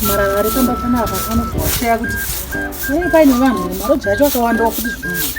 marara ari kamba kana apa kanozowaseya kuti ee paine vanhu ere maroja acho akawandawo kuti zvinonzi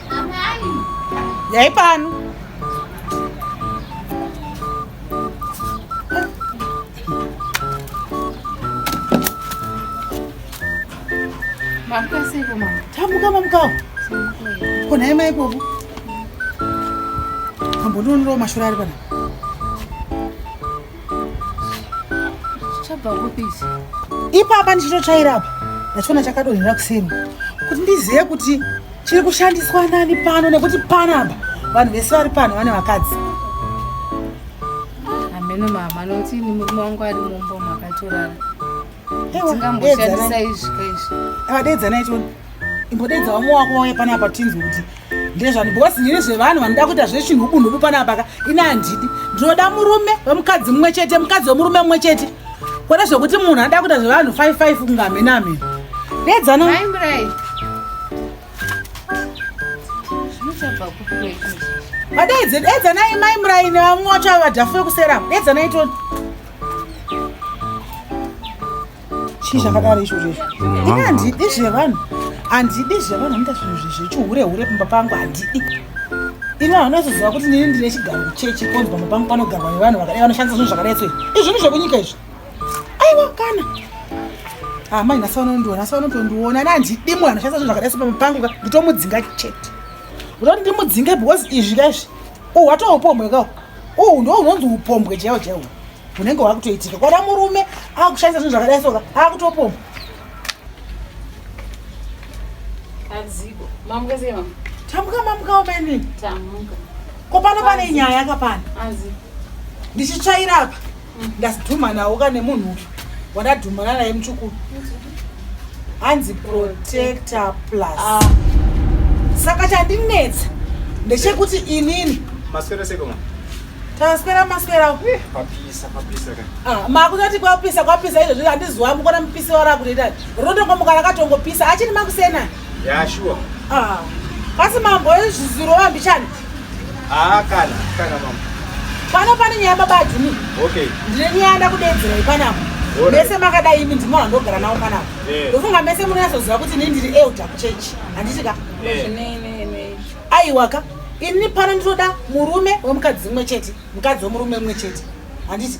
Yai pano. Mamuka siko mama. Tamuka mamuka. Kona yema ikoku. Ambononro mashura ari pana. Chabva kupisi. Ipapa ndichitochaira apa. Ndachona chakadonhera kuseri. Kuti ndizive kuti chiri kushandiswa nani pano nekuti panapa vanhu vese vari pano vane vakadzi hameno mama nokuti ini murume wangu ari mumbo makatorara tingamboshandisa izvi ka izvi avadeedzanai tione imbodeedza vamwe wako wauya panapa tinzwe kuti ndezvani because ndine zvevanhu vanoda kuita zvechinhubunhubu panapa ka ini handidi ndinoda murume wemukadzi mumwe chete mukadzi wemurume mumwe chete Kwete zvekuti munhu ada kuita zvevanhu 55 kunga hamena hamena. Dedzana. Mai Murai. Zvinochabva kupi kwekuzvi? Vadaidze dedzanai Mai Murai nevamwe wacho ava vadhafu vekusera. Dedzanai toni. Chii zvakadaro izvo izvo? Ini handidi zvevanhu. Handidi zvevanhu anoita zvinhu zvechihure hure pamba pangu handidi. Ini havana kuzoziva kuti nini ndine chigaro kuchechi konzi pamba pangu panogarwa nevanhu vakadai vanoshandisa zvinhu zvakadai so. izvinhu zvekunyika izvi aiwa kana amai ah, nhasi vanondiona asi vanotondiona ana handidi munhu anoshandisa zvinhu zvakadai sepamba pangu ka nditomudzinga chete ndoti ndimudzinge because izvi ka izvi uhu watoo upombwe kawo uhu ndo unonzi upombwe chaiwo chaiwo hunenge hwakutoitika kwana murume akushandisa zvinhu zvakadai soka akutopombwa Azigo. Mamuka zema. Tamuka mamuka umenini? Tamuka. ko pano pane nyaya ka pano ndichitsvaira apa mm. ndazidhumanawo ka nemunhu uyu wandadhumana naye muchukuru hanzi protector plus ah. saka chandinetsa ndechekuti inini maswera sekoma taswera maswera eh, papisa papisa ka ah, makutoti kwapisa kwapisa izvozvo handizwa mukona mupisi warakutoita rotongomuka rakatongopisa achini makusena Yeah, sure. Ah. Kasi mambo ezvizuro wambichani? Ah, kana, kana mambo. Pano pane nyaya baba Ajuni. Okay. Ndine nyaya ndakudedzera ipanapo. Mese makadai imi ndimo vandogara nawo panapo. Eh. Ndofunga mese munoyazoziva kuti ini ndiri elder kuchurch. Handiti ka? Eh. Aiwa ka. Ini pano ndinoda murume wemukadzi umwe chete, mukadzi wemurume umwe chete. Handiti?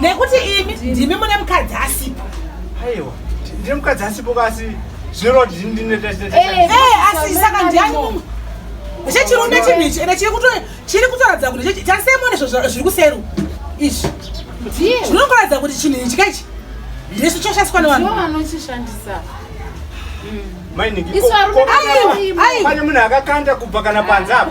nekuti imi ndimi mune mukadzi asipo aiwa ndine mukadzi asipo kasi zvinoreva kuti ndinasi saka ndiani mumwe chechirume chinhu ichi ende chiri kutoratidza kuti tasemone zviri kuseru izvi zvinongoratidza kuti chinhu ichi kaichi ndisu choshandiswa nevanhu pane munhu akakanda kubva kana panze apa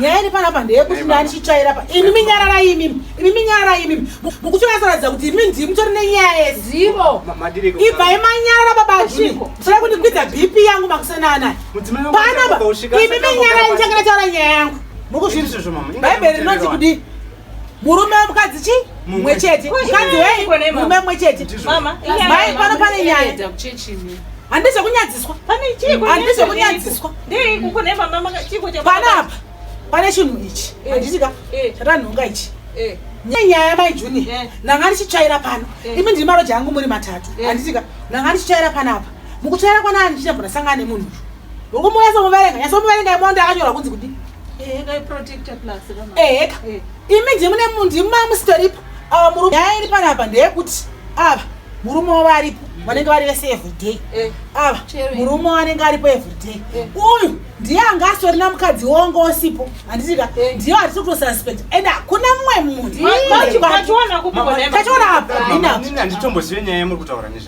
nyaya iri panapa ndeyekuti ndani chitsvaira pa imi minyararai imimi imi minyararai imimi mukuti vasaratidza kuti imi ndii mutori nenyaya yezivo ibvai manyarara babajii musada kundikwidza bp yangu makusana anaya panapa imi minyarai ndichangana taura nyaya yangu mukuzvii bhaibheri rinonzi kudii murume wemukadzi chi mumwe chete mukadzi wei murume mumwe chete mai pano pane nyaya handizve kunyadziswa handizve kunyadziswa panapa pane chinhu ichi eh. handitika eh. chatanhonga ichi eh. nyaya mai junior ndanga ndichitsvaira pano imi ndiri maroja angu muri matatu handitika ndanga ndichitsvaira panapa mukutsvaira kwana ani chichabvona sangana nemunhu uyu ngokuti munyasomuverenga nyasomuverenga imonda akanyorwa kunzi kudi eheka imi ndi mune munhu ndima musitoripo ah, murume nyaya iri panapa ndeyekuti ava murume wavo aripo vanenge vari vese everyday eh. ava murume wanenge aripo everyday eh. uyu ndiye anga asitorina mukadzi wonga osipo handitika eh. ndiyo hatisi kutosuspect and hakuna mumwe munhu tachiona apa inanditombosive nyaya yamuri kutaura nezva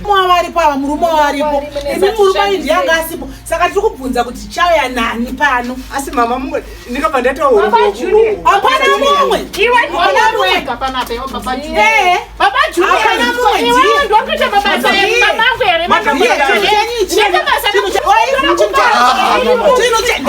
Mwa varipo ava murume wavaripo imi murume ayi ndiye anga asipo saka tiri kubvunza kuti chauya nani pano asi mama mumwe ndikabva ndatohapana mumwe chinhu chenyu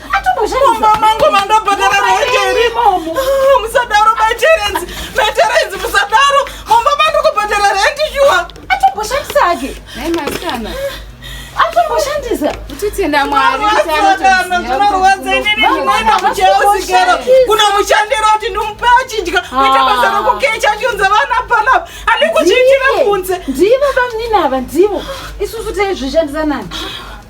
mumba mangu mandobhadhara rent here ah, musadaro my tenants my tenants musadaro mumba mandokubhadhara rent shuwa atomboshandisa ake nhai masikana atomboshandisa utitenda mwariaaaorwadza inini ndinoenda kucheosikero kuna mushandiro kuti ndimupe achidya kuita basa ah. rokukecha achionza vana panapa andikuchiitira kunze ndivo vamunini ava ndivo isusu taizvishandisa nani